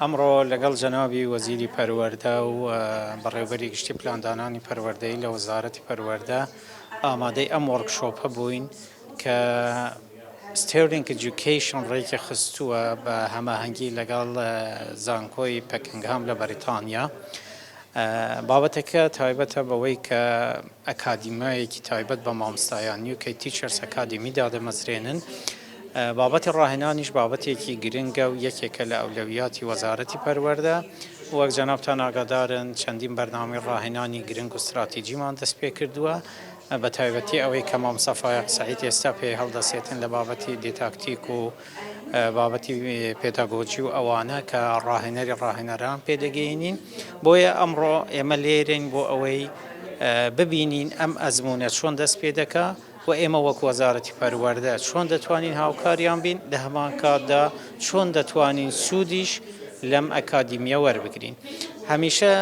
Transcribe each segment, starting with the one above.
ئەمڕۆ لەگەڵ جەنابی وەزیری پەروەردە و بەڕێوبەری گشتی پلاندانانی پەروەردەیی لە وەزارەتی پەروەردە ئامادەی ئەم وۆرک شۆپە بووین کە ستێرلینگ ئیدیوکەیشن ڕێکی خستووە بە هەماهەنگی لەگەڵ زانکۆی پەکنگهام لە بەریتانیا بابەتەکە تایبەتە بەوەی کە ئەکادیمایەکی تایبەت بە مامۆستایان یوکەی تیچەرس ئەکادیمی دادەمەزرێنن بابەتی ڕاهێنانیش بابەتێکی گرنگە و یەکێکە لە ئەولەویاتی وەزارەتی پەروەردە. وەک جەنابتان ئاگادارن چەندین بەرنامەی ڕاهێنانی گرنگ و ستراتیجیمان دەستپێکردووە، بە تایبەتی ئەوەی کە مامۆستا فایەق سەعید ئێستا پێی هەڵدەسێتن لە بابەتی دیتاکتیک و بابەتی پێداگۆجی و ئەوانە کە ڕاهێنەری ڕاهێنەران پێ دەگەینین. بۆیە ئەمڕۆ ئێمە لێرەین بۆ ئەوەی ببینین ئەم ئەزموونە چۆن دەست پێ دەکا. و ئێمە وەک وەزارەتی پەروەردە چۆن دەتوانین هاوکاریان بین، لە هەمان کاتدا چۆن دەتوانین سوودیش لەم ئەکادیمییە وەربگرین. هەمیشە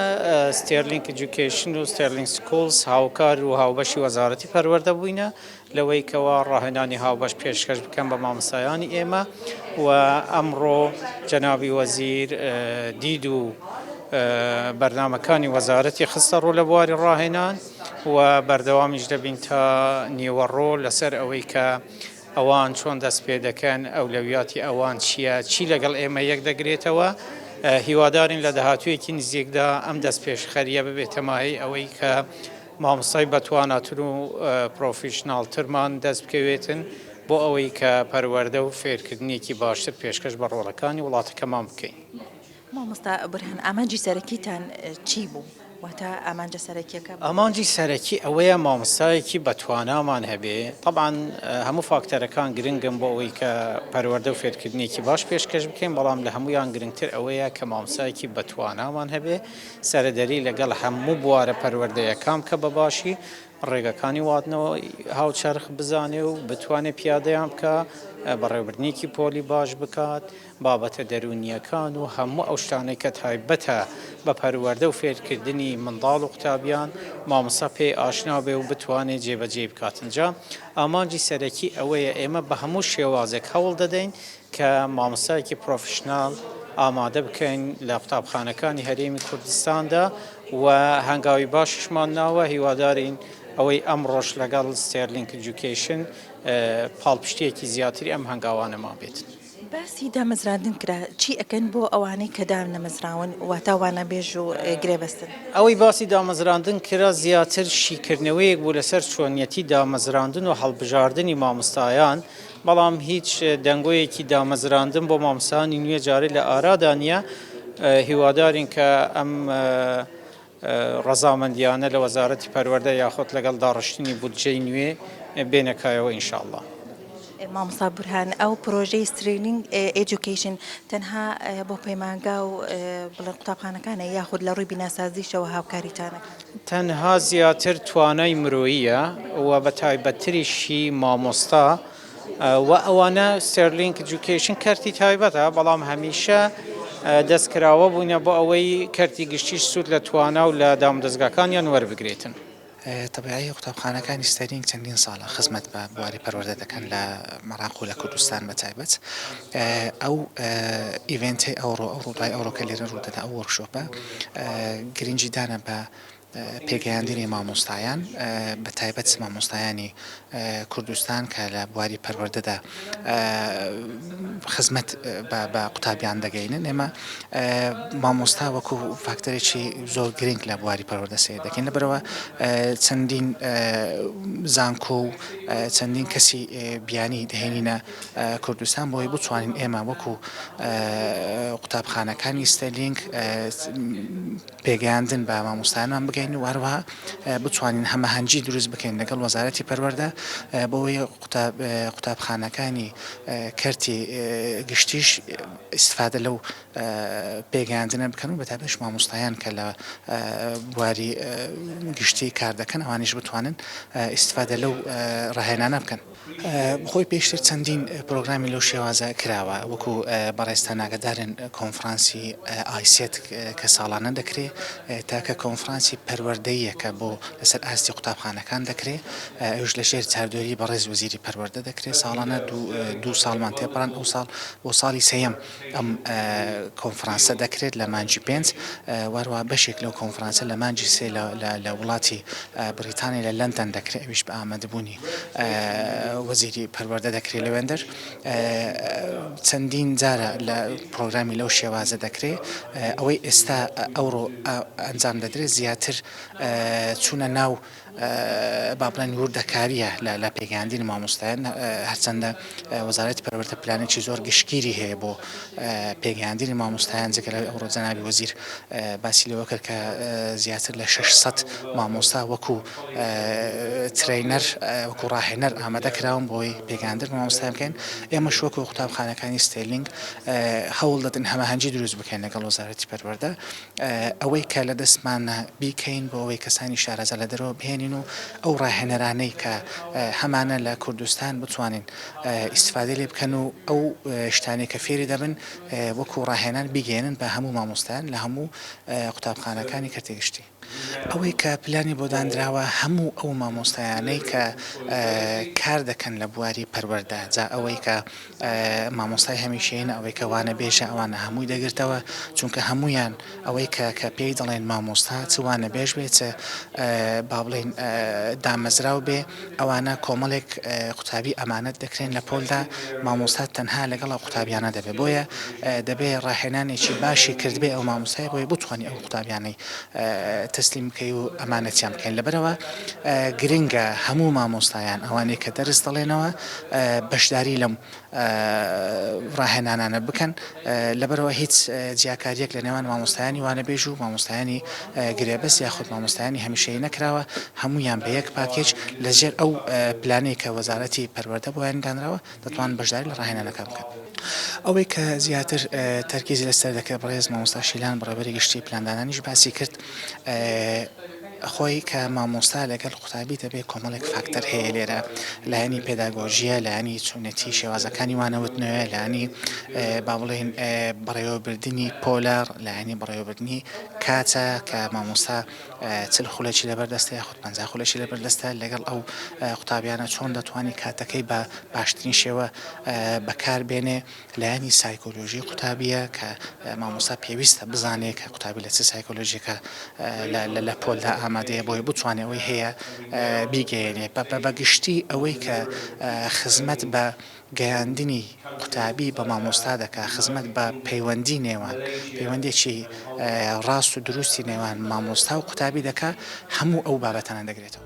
ستێرلینگ ئیدوکەیشن و ستێرلینگ سکوڵز هاوکار و هاوبەشی وەزارەتی پەروەردە بووینە لەوەی کەوا ڕاهێنانی هاوبەش پێشکەش بکەن بە مامۆستایانی ئێمە و ئەمڕۆ جەنابی وەزیر دید و بەرنامەکانی وەزارەتی خستە ڕوو لە بواری ڕاهێنان. و بەردەوامیش دەبین تا نیوەڕۆ لەسەر ئەوەی کە ئەوان چۆن دەست پێ دەکەن، ئەولەویاتی ئەوان چییە، چی لەگەڵ ئێمە یەک دەگرێتەوە. هیوادارین لە داهاتوویەکی نزیکدا ئەم دەستپێشخەرییە ببێتە مایەی ئەوەی کە مامۆستای بەتواناتر و پڕۆفیشناڵترمان دەست بکەوێتن بۆ ئەوەی کە پەروەردە و فێرکردنێکی باشتر پێشکەش بە ڕۆڵەکانی وڵاتەکەمان بکەین. مامۆستا بورهان ئامانجی سەرەکیتان چی بوو؟ واتە ئامانجە سەرەکیەکە؟ ئامانجی سەرەکی ئەوەیە مامۆستایەکی بەتوانامان هەبێ، تەبعەن هەموو فاکتەرەکان گرنگن بۆ ئەوەی کە پەروەردە و فێرکردنێکی باش پێشکەش بکەین، بەڵام لە هەموویان گرنگتر ئەوەیە کە مامۆستایەکی بەتوانامان هەبێ سەرەدەری لەگەڵ هەموو بوارە پەروەردەیەکان بکە بە باشی ڕێگەکانی واتنەوەی هاوچەرخ بزانێ و بتوانێ پیادەیان بکا، بەڕێوەبردنێکی پۆلی باش بکات. بابەتە دەروونییەکان و هەموو ئەو شتانەی کە تایبەتە بە پەروەردە و فێرکردنی منداڵ و قوتابیان، مامۆستا پێی ئاشنا بێ و بتوانێ جێبەجێی بکات. ئینجا ئامانجی سەرەکی ئەوەیە ئێمە بە هەموو شێوازێک هەوڵ دەدەین کە مامۆستایەکی پرۆفیشناڵ ئامادە بکەین لە قوتابخانەکانی هەرێمی کوردستاندا و هەنگاوی باشیشمان ناوە، هیوادارین ئەوەی ئەمڕۆش لەگەڵ ستێرلینک ئیجوکەیشن پاڵپشتییەکی زیاتری ئەم هەنگاوانەمان بێت. باسی دامەزراندن کرا، چی ئەکەن بۆ ئەوانەی کە دانەمەزراون واتا وانەبێژ و گرێبەستن؟ ئەوەی باسی دامەزراندن کرا زیاتر شیکردنەوەیەک بوو لەسەر چۆنیەتی دامەزراندن و هەڵبژاردنی مامۆستایان، بەڵام هیچ دەنگۆیەکی دامەزراندن بۆ مامۆستایانی نوێ جارێ لە ئارادا نییە، هیوادارین کە ئەم. ڕەزامەندیانە لە وەزارەتی پەروەردە یاخود لەگەڵ داڕشتنی بودجەی نوێ بێنە کایەوە ان شاءاللە. مامۆستا بورهان ئەو پرۆژەی سترینگ ئێجوکەیشن تەنها بۆ پەیمانگا و بڵێن قوتابخانەکانە یاخود لە ڕووی بیناسازیشەوە هاوکاریتانە؟ تەنها زیاتر توانای مرۆییە و بە تایبەتتریشی مامۆستا، وە ئەوانە ستێرلینک ئیجوکەیشن کەرتی تایبەتە بەڵام هەمیشە دەستکراوە بوونە بۆ ئەوەی کەرتی گشتیش سوود لە توانا و لە دامودەزگاکانیان وەربگرێتن. تەبعی قوتابخانەکانی ستێرلینک چەندین ساڵە خزمەت بە بواری پەروەردە دەکەن لە عێراق و لە کوردستان بە تایبەت ئەو ئیڤێنتەی ئەوڕۆ ئەو ڕووداوی ئەوڕۆ کە لێرە ڕوودەدا ئەو وۆرکشۆپە گرنگی دانە بە پێگەیاندنی مامۆستایان بە تایبەت مامۆستایانی کوردستان کە لە بواری پەروەردەدا خزمەت بە قوتابیان دەگەینن ئێمە مامۆستا وەکو فاکتەرێکی زۆر گرنگ لە بواری پەروەردە سێ دەکەین لەبەرەوە چەندین زانکۆ و چەندین کەسی بیانی دەهێنینە کوردستان بۆی بچوانین ئێمە وەکو قوتابخانەکانی ستەلینگ پێگەیاندن بە مامۆستایانمان بگەین و هەروەها بتوانین هەمەهەنگی دروست بکەین لەگەڵ وەزارەتی پەروەردە بۆی قوتابخانەکانی کەرتی گشتیش ئیسفادە لەو پێگەیاندنە بکەن و بەتابش مامۆستایان کە لە بواری گشتی کار دەکەن ئەوانیش بتوانن ئیسفادە لەو ڕاهێنانە بکەن. خۆی پێشتر چەندین پرۆگرامی لەو شێوازە کراوە وەکو بەڕێزتان ئاگادارن کۆنفڕانسی ئایسێت کە ساڵانە دەکرێ تاکە کۆنفڕانسی پەروەردەییە کە بۆ لەسەر ئاستی قوتابخانەکان دەکرێ ئەویش لە ژێر چاودێری بەڕێز وەزیری پەروەردە دەکرێ ساڵانە دوو دوو ساڵمان تێپەڕاند ئەوساڵ بۆ ساڵی سێیەم ئەم کۆنفرانسە دەکرێت لە مانگی پێنج و هەروەها بەشێک لەو کۆنفرانسە لە مانگی سێ لە وڵاتی بریتانیا لە لەندەن دەکرێت ئەویش بە ئامادەبوونی وەزیری پەروەردە دەکرێت لەوێندەر چەندین جارە لە پرۆگرامی لەو شێوازە دەکرێت ئەوەی ئێستا ئەوڕۆ ئەنجام دەدرێت زیاتر چوونە ناو با بڵێن وردەکارییە لە پێگەیاندنی مامۆستایان، هەرچەندە وەزارەتی پەروەردە پلانێکی زۆر گشتگیری هەیە بۆ پێگەیاندنی مامۆستایان، جگە لەوەی ئەمڕۆ جەنابی وەزیر باسی لەوە کرد کە زیاتر لە شەش سەد مامۆستا وەکو ترەینەر، وەکو ڕاهێنەر ئامادە کراون بۆی پێگەیاندن بە مامۆستایان بکەین، ئێمەش وەکو قوتابخانەکانی ستێرلینگ هەوڵ دەدەین هەماهەنگی دروست بکەین لەگەڵ وەزارەتی پەروەردە. ئەوەی کە لە دەستمانە بیکەین بۆ ئەوەی کەسانی شارەزا لە دەرەوە بهێنین و ئەو ڕاهێنەرانەی کە هەمانە لە کوردستان بتوانین ئیستفادەی لێ بکەن و ئەو شتانەی کە فێری دەبن وەکو ڕاهێنان بیگەێنن بە هەموو مامۆستایان لە هەموو قوتابخانەکانی کەرتی گشتی. ئەوەی کە پلانی بۆ دانراوە هەموو ئەو مامۆستایانەی کە کار دەکەن لە بواری پەروەردە جا ئەوەی کە مامۆستای هەمیشەیی نە ئەوەی کە وانەبێژە ئەوانە هەمووی دەگرتەوە چونکە هەموویان ئەوەی کە کە پێی دەڵێن مامۆستا چ وانەبێژ بێ چ با بڵێین دامەزراو بێ ئەوانە کۆمەڵێک قوتابی ئەمانەت دەکرێن لە پۆلدا مامۆستا تەنها لەگەڵ ئەو قوتابیانە دەبێ بۆیە دەبێ ڕاهێنانێکی باشی کردبێ ئەو مامۆستای بۆی بتوانانی ئەو قوتابیانەی تەسلیم بکەی و ئەمانەتیان بکەین لەبەرەوە گرنگە هەموو مامۆستایان ئەوانەی کە دەرس دەڵێنەوە بەشداری لەم ڕاهێنانانە بکەن لەبەرەوە هیچ جیاکاریەک لە نێوان مامۆستایانی وانەبێژ و مامۆستایانی گرێبەس یاخود مامۆستایانی هەمیشەی نەکراوە هەموویان بە یەک پاکێج لە ژێر ئەو پلانەی کە وەزارەتی پەروەردە بۆیان دانراوە دەتوان بەشداری لە ڕاهێنانەکان بکەن. ئەوەی کە زیاتر تەرکیزی لەسەر دەکرد بەڕێز مامۆستا شیلان بەڕێوەبەری گشتی پلاندانانیش باسی کرد خۆی کە مامۆستا لەگەل قوتابی دەبێ کۆمەڵێک فاکتەر هەیە لێرە لایەنی پێداگۆژیە لایەنی چۆنێتی شێوازەکانی وانەوتنەوە لانی با بڵێن بەڕێوەبردننی پۆلار لایەنی بەڕێوەبردننی کاتە کە مامۆستا چل خولەکی لەبەردەستە یاخود پ خولەکی لەبەردەستە لەگەڵ ئەو قوتابیانە چۆن دەتوانانی کاتەکەی بە باشترین شێوە بەکار بێنێ لایەنی سایکۆلۆژی قوتابییە کە مامۆستا پێویستە بزانێ کە قوتابی لە چ سایکۆلۆژیەکە لە پۆلدا ئامادەیە بۆی بتوانێ ئەوەی هەیە بیگەیەنێ بە بە گشتی ئەوەی کە خزمەت بە گەیاندنی قوتابی بە مامۆستا دەکا خزمەت بە پەیوەندی نێوان پەیوەندێکی ڕاست و دروستی نێوان مامۆستا و قوتابی دەکا هەموو ئەو بابەتانە دەگرێتەوە.